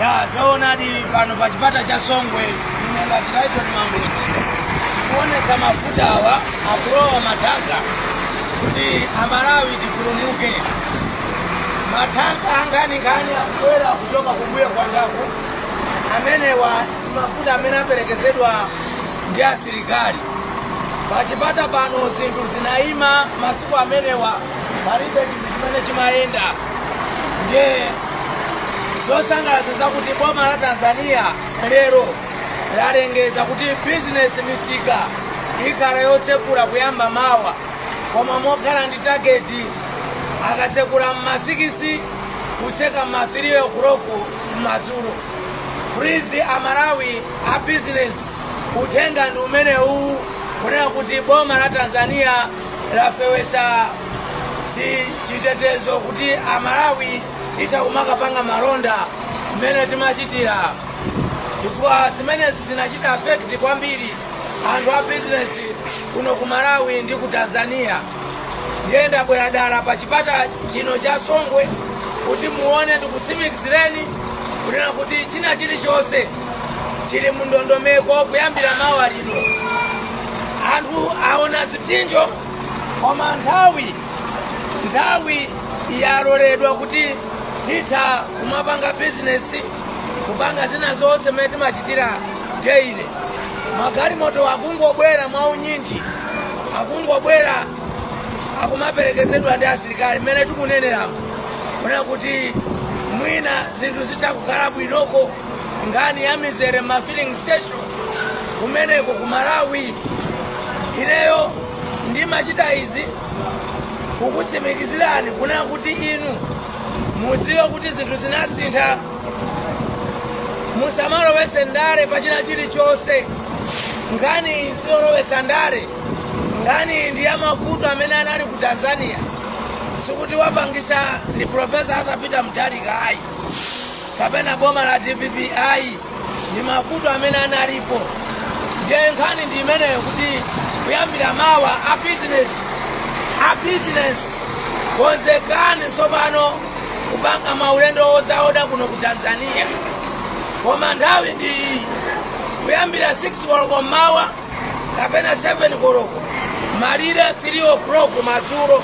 ya zoonadi pano pa chipata cha songwe ine ngati laitoni mangochi kuonetsa mafuta awa akulowa mathanka kuti amalawi tipulumuke mathanka ankhaninkhani akubwera kuchoka kumbuyo kwangaku amenewa ndi mafuta amene aperekezedwa ndi asilikali pachipata pano zinthu zinayima masiku amenewa palibe chinthu chimene chimayenda ndiye zosangalatsa zakuti boma la tanzania lero lalengeza kuti bizinesi misika ikhala yotsekula kuyamba mawa koma mokhala ndi tageti akatsekula mma sikisi kutseka mma 3 o'clock madzulo please amalawi a bizinesi uthenga ndi umenewu kunena kuti boma la tanzania lafewesa chi- chitetezo kuti amalawi titha kumakapanga malonda mmene timachitira chifukwa zimenezi zinachita afekti kwambiri anthu a bizinesi kuno ku malawi ndi ku tanzania ndiye ndabwera dala pa chipata chino cha songwe kuti muone ndikutsimikizireni kunena kuti china chilichonse chili mu ndondomeko kuyambira mawa lino anthu aona zipsinjo koma nthawi nthawi yaloledwa kuti titha kumapanga bizinesi kupanga zina zonse mmene timachitira daily magalimoto akungobwera mwa unyinji akungobwera akumaperekezedwa ndi asilikali mmene tikuneneramo kunena kuti mwina zinthu zitha kukhala bwinoko nkhani ya mizere ma filling station kumeneko ku malawi ineyo ndimachita izi kukutsimikizirani kunena kuti inu mudziwe kuti zinthu zinasintha musamalowetse ndale pa china chilichonse nkhani iyi siyolowetsa ndale nkhani iyi ndi ya mavuto amene anali ku tanzania sikuti wapangisa ndi profesa arthur peter mutharika ayi kapena boma la dpp ayi ndi mavuto amene analipo ndiye nkhani ndi imeneyo kuti kuyambira mawa a bizinesi a bizinesi konzekani tsopano kupanga maulendo ozaoda kuno ku tanzania koma nthawi ndi iyi kuyambira 6 koloko mmawa kapena 7 koloko malire 3 o'clock madzulo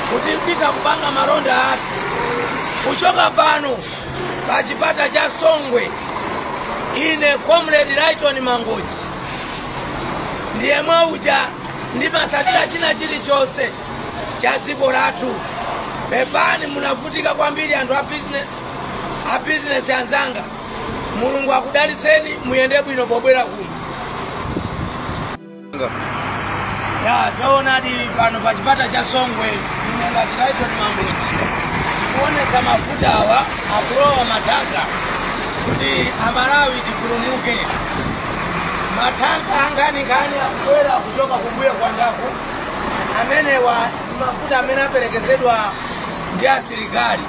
kuti titha kupanga malonda athu kuchoka pano pa chipata cha songwe ine comrade lighton mangochi ndiyemwe uja ndimatsatira china chilichonse cha dziko lathu pepani munavutika kwambiri anthu a business anzanga mulungu akudalitseni muyende bwino pobwera kuno ya zoonadi pano pa chipata cha songwe ine ngati laitoni mangochi kuonetsa mafuta awa akulowa matanka kuti amalawi tipulumuke matanka ankhaninkhani akubwera kuchoka kumbuyo kwangaku amenewa ndi mafuta amene aperekezedwa ndi asilikali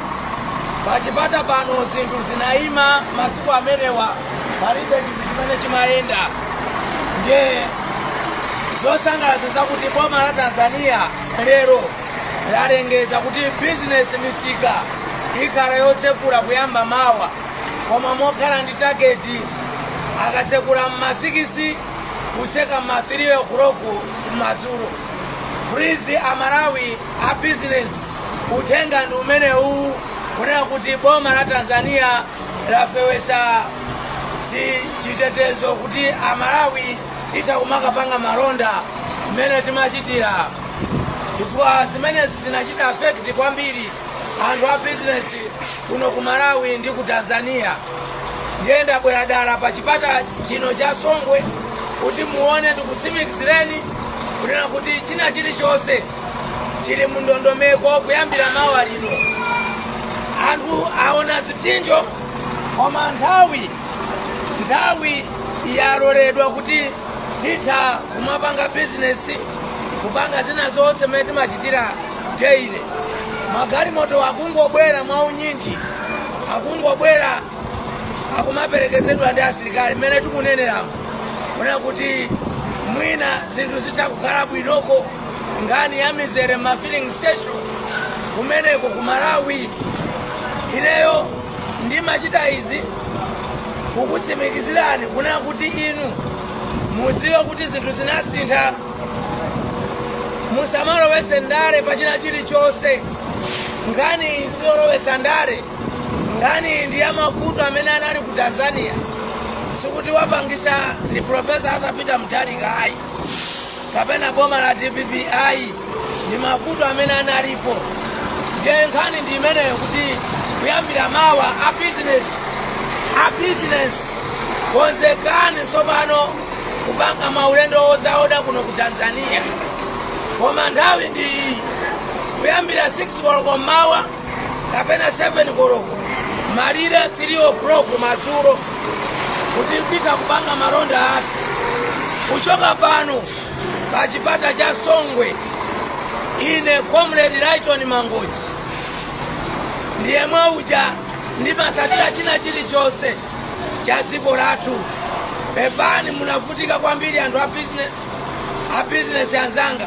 pachipata pano zinthu zinaima masiku amenewa palibe chinthu chimene chimayenda ndiye zosangalatsa zakuti boma la tanzania lero lalengeza kuti bizinesi misika ikhala yotsekula kuyamba mawa koma mokhala ndi tageti akatsekula mma sikisi kutseka mma 3 o'clock madzulo please amalawi a business uthenga ndi umenewu kunena kuti boma la tanzania lafewetsa chi- chitetezo kuti amalawi titha kumakapanga malonda mmene timachitira chifukwa zimenezi zinachita afekti kwambiri anthu a bizinesi kuno ku malawi ndi ku tanzania ndiye ndabwera dala pa chipata chino cha songwe kuti muone ndikutsimikizireni kunena kuti china chilichonse chili mu ndondomeko kuyambira mawa lino anthu aona zipsinjo koma nthawi nthawi yaloledwa kuti titha kumapanga bizinesi kupanga zina zonse mmene timachitira daily magalimoto akungobwera mwa unyinji akungobwera akumaperekezedwa ndi asilikali mmene tikuneneramo kuona kuti mwina zinthu zitha kukhala bwinoko nkhani ya mizere mma filling station kumeneko ku malawi ineyo ndimachita izi kukutsimikizirani kunena kuti inu mudziwe kuti zinthu zinasintha musamalowetse ndale pa china chilichonse nkhani iyi siyolowetsa ndale nkhani iyi ndi ya mavuto amene anali ku tanzania sikuti wapangisa ndi profesa arthur peter mutharika ayi kapena boma la dpp ayi ndi mavuto amene analipo ndiye nkhani ndi imeneyo kuti kuyambira mawa a business a business konzekani tsopano kupanga maulendo ozaoda kuno ku tanzania koma nthawi ndi iyi kuyambira 6 koloko mmawa kapena 7 koloko malire 3 o'clock madzulo kuti titha kupanga malonda athu kuchoka pano pa chipata cha songwe ine comrade lighton mangochi ndiyemwe uja ndimatsatira china chilichonse cha dziko lathu pepani munavutika kwambiri anthu a business anzanga